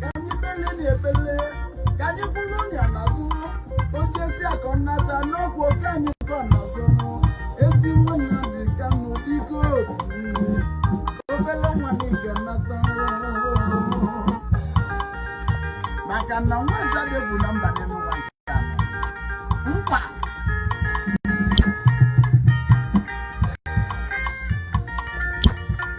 ka anyị bele na ebele ka anyị kwụrụ ya n'azụ o jesịa ka ọ nata na ọ bụ ka anyị kwụ n'azụ ezi nwa nnamdi kanụ biko bili. obele nwa na ị ga-anata maka na nwa eze adị efu na mba dị n'ụwa nke a nọ. mkpa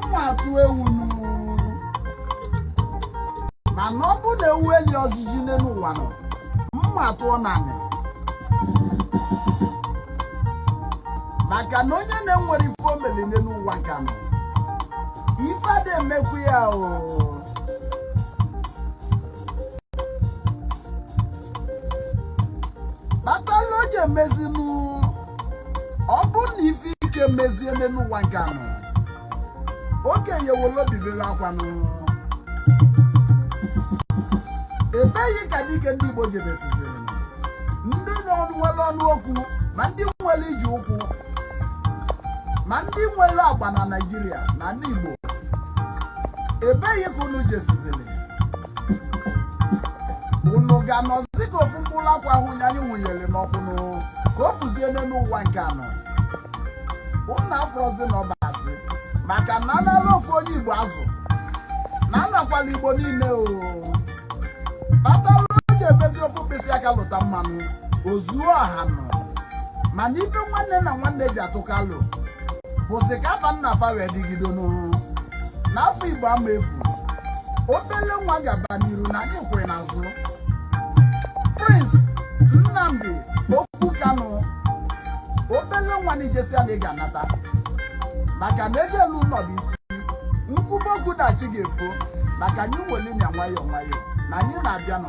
mma atụ ewu n'ụwa mana ọ bụ na ewu elirozi ji n'elu ụwa a nọ mma atụọ na anị maka na onye na-enwerọ ife o meli n'elu ụwa ka a nọ ife ada emekwu ya ọ kpatala o ji emezinu ọ bụrụ na ife ike mezie n'ụwa nke a nọ okenye wele obi bele akwa n'ụlọ ebee ka dike ndị Igbo jebesiziri ndị nwere ọnụ okwu ma ndị nwere iji ụkwụ ma ndị nwere agba na Naịjirịa na ndị Igbo ebee ka unu jesiziri unu ga-anọzi ka ofu mkpụrụ akwụ ahụ nye anyị wụnyere n'ọkụ nụ ka o fuzie n'elu ụwa nke a nọ unu afụrọzi na ọ bụ asị maka na anala ofu onye igbo azụ na anakwala igbo niile ọ kpatara o ji emezi ofu mkpịsị aka lụta mmanụ o zuo ọha ọnụ mana ife nwanne na nwanne ji atụkọ alo bụzi ka afa nna fa wee dịgido n'ụwa na afa igbo ama efu obele nwa gaba n'iru na anyị kwụ ị n'azụ prince nnamdi okwu kanụ obele nwa na ị jesịa na ị ga-anata maka na eje elu ụnọ bụ isi m kwube okwu taa chi ga-efo maka anyị weli nya nwayọọ nwayọọ na anyị na-abịanụ